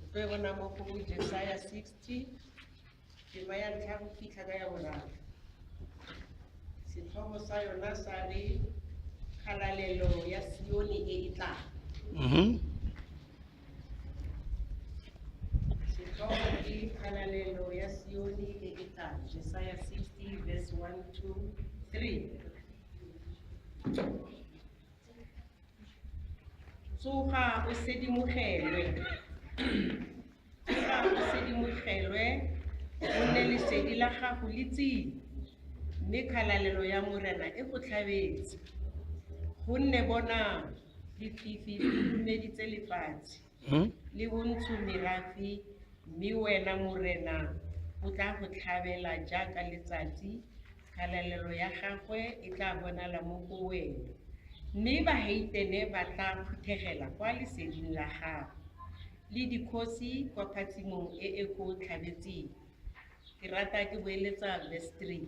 Re tlo bona mo go Jesaja 60, tema ya ntlha go fitlha ka ya boraro. Setlhogo sa yona sa re kgalalelo ya Sione e e tlang. Mm-hmm. Setlhogo ke kgalalelo ya Sione e e tlang. Jesaja 60 verse 1 to 3. Tsoga o sedimogelwe. Tsoga o sedimogelwe, o nne lesedi la gago le tsile, mme khalalelo ya Morena e go tlhabetse. Gonne bonang, lefifi le khurumeditse lefatshe. Hmm? le bontsho merafe mme wena morena o tla go tlhabela jaaka letsatsi kgalalelo ya gagwe e tla bonala mo go wena mme baheitene ba tla phuthegela kwa leseding la gago le dikgosi kwa phatsimong e e go tlhabetseng ke rata ke boeletsa verse 3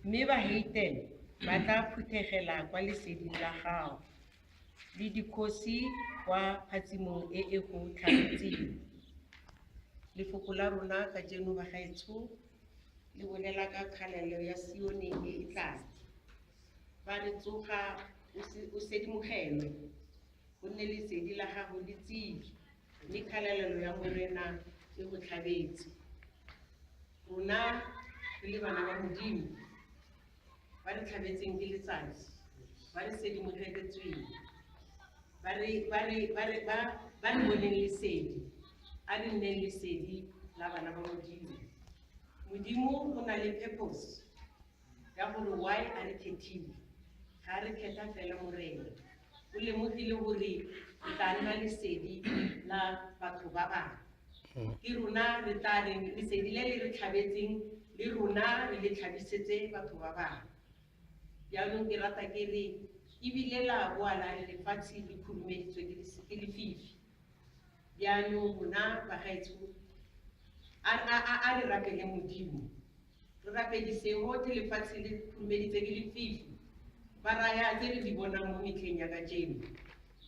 mme baheitene ba tla phuthegela kwa leseding la gago le dikgosi kwa phatsimong e e go tlhagetseng. Lefoko la rona kajeno bagaetsho le bolela ka kgalelo ya Sione e e tlang. Ba re tsoga o se- o sedimogelwe, gonne lesedi la gago le tsile, mme kgalelelo ya Morena e go tlhabetse. Rona re le bana ba Modimo, ba re tlhabetseng ke letsatsi ba re sedimogeletsweng ba re ba re ba re ba ba re boneng lesedi a re nneng lesedi la bana ba modimo modimo o na le purpose ya gore why a re khethile ga re khetha fela morena o lemogile gore o tla nna lesedi la batho ba bangwe hmm. ke rona re tla reng lesedi le le re tlhabetseng le rona re le tlhabisetse batho ba bangwe jaanong ke rata ke re ebile la boa la re lefatshe le khurumeditswe ke lefifi jaanong rona bagaetsho a re rapele modimo Re rapedi seo te lefatshe le khurumeditse ke lefifi. Ba raya tse re di bonang mo metlheng ya kajeno.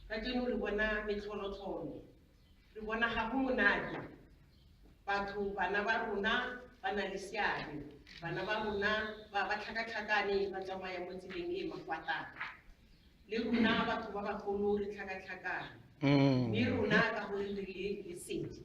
Kajeno re bona metlholotlholo. Re bona ga go monate. Batho, bana ba rona ba na le seabe. Bana ba rona ba ba tlhakatlhakane ba tsamaya mo tseleng e e makwatata. Le rona batho ba bagolo re tlhakatlhakane. Mme rona ka gore re le lesedi,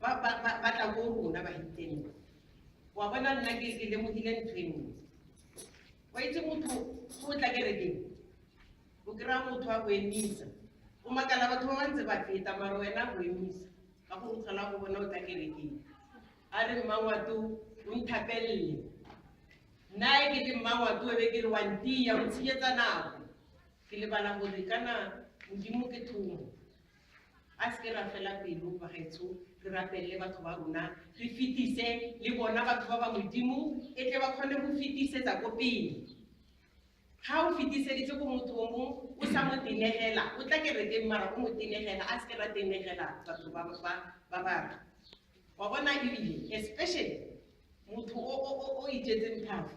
ba ba ba ba tla ko rona ba hiteng wa bona nna ke ke lemogile ntho e nngwe wa itse motho go o tla kerekeng o kry-a motho a go emisa o makala batho ba ba ntse ba feta mara wena a go emisa ka go o tlhola go bona o tla kerekeng a re mmangwato o nthapelele nna e ke te mmangwato e be ke re wa ntia o tshenyetsa nako ke lebala gore kana modimo ke thomo A seke ra fela pelo bagaetsho re rapelele batho ba rona re fetise le bona batho ba ba modimo e tle ba kgone go fetisetsa ko pele ga o fetiseditse ko motho o mong o sa mo tenegela o tla kerekeng mara o mo tenegela a seke ra tenegela batho ba batho wa bona ebile especially motho o itsetseng thafo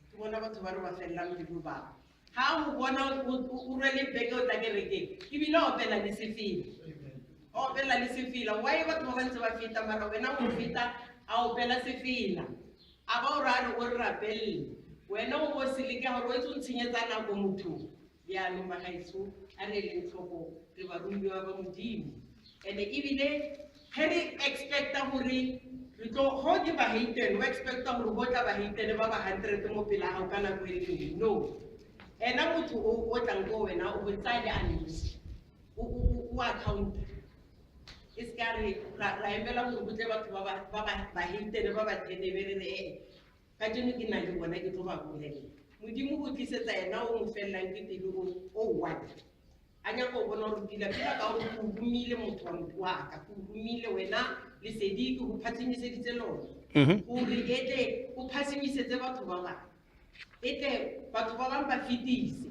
ke bona batho ba re ba felelang pelo bangwe ga o bona o rwele beke o tla kerekeng ebile opela le sefela opela le sefela wa e batho ba bantse ba feta mara wena o feta a opela sefela a ba o ra re o re rapelele wena o bo seleke gore o etse o ntshenyetsa nako mothong Jaanong bagaetsho, a re eleng tlhoko, re baromiwa ba Modimo. And ebile ge re expecta gore re tlo go ke baheitene, o expecta gore go tla baheitene ba ba hundred mo pela gago ka nako e le nngwe. No. Ena motho o o tlang ko wena o go tsaya le a nosi. O o- o- o accounta. E se ka re ra ra emela gore go tle batho ba ba- ba ba- baheitene ba ba tenebe re re ee. ka jeno ke nang le bona ke tlo ba bolelela modimo o tlisetsa ena o mo felelang ke pele o o one a nyaka o bona gore pila pila ka gore o humile motho wa motho wa ka o humile wena lesedi ke go phatsimiseditse lone Mhm. gore e tle o phasimisetse batho ba bangwe e tle batho ba bangwe ba fetise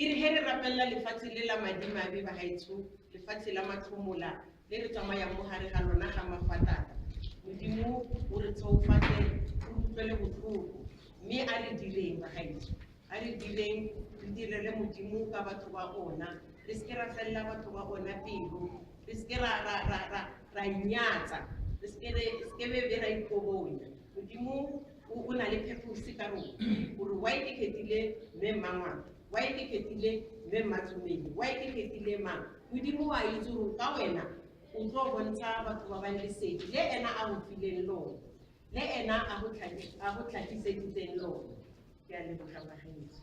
E re he re rapelela lefatshe le la madimabe bagaetsho, lefatshe la matlhomola le re tsamayang mo gare ga lona ga mafatata, Modimo o re tsheofatse o utlwele botlhoko, mme a re direng bagaetsho, a re direng re direle Modimo ka batho ba ona, re seke ra felela batho ba ona pelo, re seke ra ra ra ra ra inyatsa, re seke re seke be be ra ikobonya. Modimo o o na le pheposi ka rona o re wa ikeketile mme mmangwana wa ikeketile mme mmatsomedi wa ikeketile mang modimo wa itse gore ka wena o tlo bontsha batho ba bang lesedi le ena a go fileng lone le ena a go tlhaki- a go tlhakiseditseng lone ke a leboga bagenetso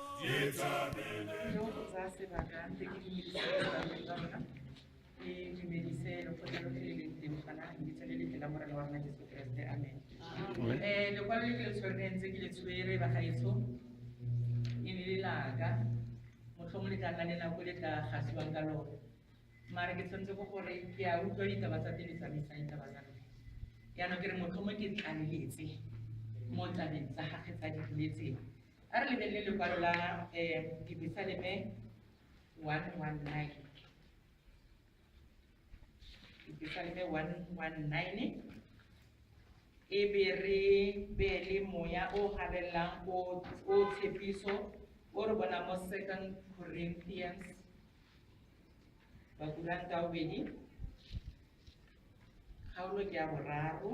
Yo za se bakan te ki milise la mekana e ki milise lo kote lo kele le te mkana ki tele le kela mora lwa ngati so kreste amen e lo kwa le kele tswere nze ki le tswere ba gaeso e ne le laga motlhomo le tla kanela ko le tla gasiwang ka lona mara ke tshwanetse ko gore ke a utlwa ditaba tsa tele tsamaisa ditaba tsa lona yaanong ke re motlhomo ke tlaleletse mo tabeng tsa gage tsa dipoletseng a re lebelele lekwalo la um dibesaleme one one nine dibesaleme one one nine e be re beele moya o gabelelang o tshepiso o re bona mo second corinthians bakuranta o bedi kgaolo ke ya boraro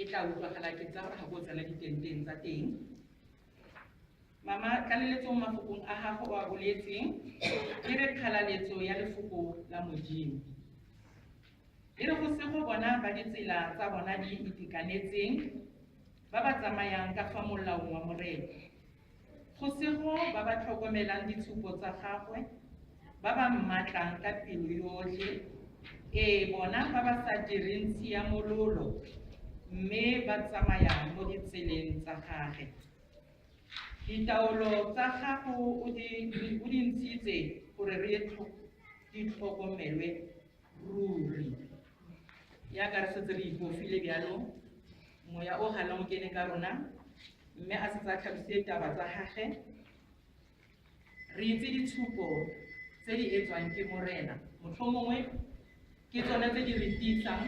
e tla utlwagala ke tsa gore ga bo tsena ditenteng tsa teng mama tlaleletsong mafokong a gago o a boletseng e re kgalaletso ya lefoko la modimo e re go se go bona ba ditsela tsa bona di itekanetseng ba ba tsamayang ka fa molaong wa morena Go sego ba ba tlhokomelang ditshupo tsa gagwe, ba ba mmatlang ka pelo yotlhe, ee, bona ba ba sa direng tshiamololo mme ba tsamayang mo ditseleng tsa gage. Ditaolo tsa gago o di ntshitse gore re di tlhokomelwe ruri. Yaka re setse re ipofile bjalo Moya o gana o kene ka rona, mme a setse a tlhabisitse taba tsa gage. Re itse ditshupo tse di etswang ke Morena, motlhomongwe ke tsone tse di re tiisang,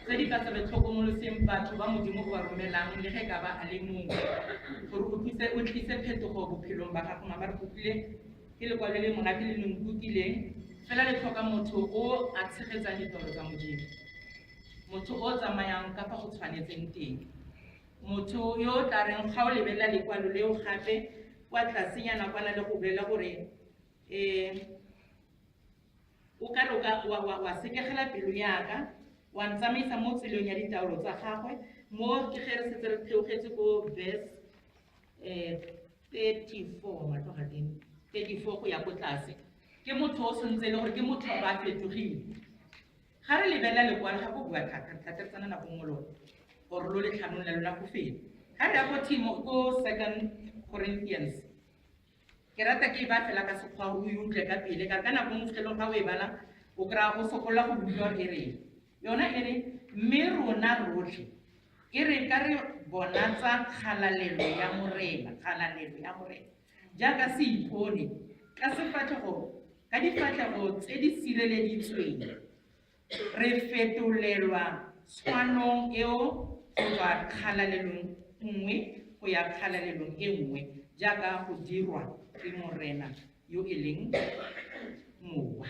tse di ka se re tlhokomoloseng batho ba Modimo o ba romelang le ge ka ba a le mongwe, gore o tlise o tlise phetogo bophelong ba gago. Mama re kopile ke lekwalo le monate le le nkukileng, fela le tlhoka motho o a tshegetsang ditoro tsa Modimo. motho o o tsamayang ka fa go tshwanetseng teng motho yo o tla reng ga o lebelela lekwalo leo gape kwa tlasenyana kwana le go bolela gore um o ka re wa sekegela pelo yaka wa ntsamaisa mo tselong ya ditaolo tsa gagwe mo ke ge re setse re theogetse ko verse um thirty-four matloga teng thirty-four go ya ko tlase ke motho o sentse e le gore ke motho ba fetogile Ga re lebelela lekwalo ga go bua thata, re tla tetsana nako nngwe lone gore lo letlhanong la lona go fele. Ga re ya go Timo ko Second Corinthians, ke rata ke e ba fela ka sekgwa o e utlwe ka pele ka ka nako nngwe fitlhelong ga o e bala o kry-a o sokolola go utlwa e reng yona e re mme rona rotlhe e re ka re bonatsa kgalalelo ya morena kgalalelo ya morena jaaka se ipone ka sefatlhego ka difatlhego tse di sireleditsweng re fetolelwa tshwanong eo go tswa kgalalelong nngwe go ya kgalalelong e nngwe jaaka go dirwa ke morena yo e leng mowa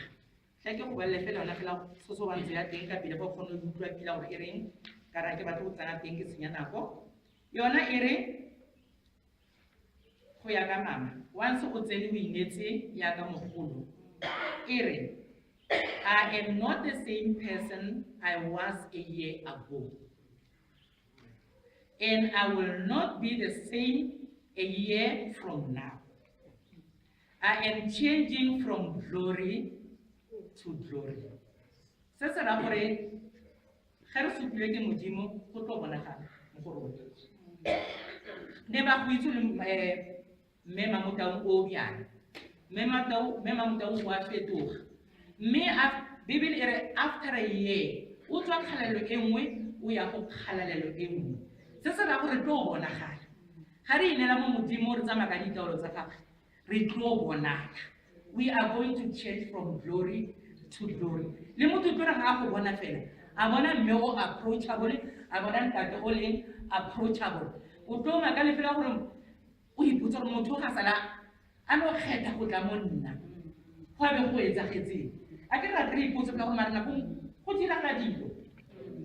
tla ke go balele fela ona fela sosobantsho ya teng ka pele go kgone go utlwa pila gore e reng ka ra ke batlo go tsena teng ke senya nako yona e re Go ya ka mama, once o tsene o inetse yaka mogolo, e re, I am not the same person I was a year ago. And I will not be the same a year from now. I am changing from glory to glory. Se se ra gore ge re supilwe ke modimo go tlo bonagala mo go rona ne ba go itse le eh, mme mamotaung o bjana mme mamotaung o a fetoga mme bibele e re after a year o tswa kgalalelo e nngwe o ya go kgalalelo e nngwe se se ra gore tlo bonagala ga re inela mo modimo re tsamaya ka ditaolo tsa gagwe re tlo bonana we are going to change from glory to glory le motho tlo re ga a go bona fela a bona mme o approachable a bona ntate o leng approachable o tlo maka le fela gore o ipotsa gore motho ga sala a no kgetha go tla mo nna go a be go etsagetseng a ke rate re ipotse fela go mare nako go diragala dilo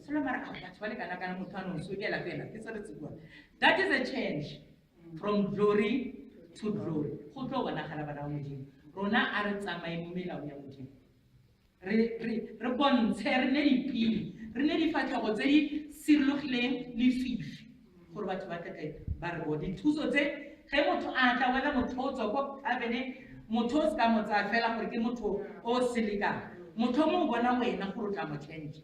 selo mare a batho ba le kana kana motho a nong sokela fela ke se re tsekua that is a change from glory to glory go tlo bonagala bana ba modimo rona a re tsamaye mo melaong ya modimo re bontshe re ne dipili re ne difatlhogo tse di sirologileng lefifi gore batho ba tleke ba re bo dithuso tse ge motho a tla wena motho o tswa ko abene motho o se ka mo tsaya fela gore ke motho o selekang motho o mo bona wena gore o tla mo change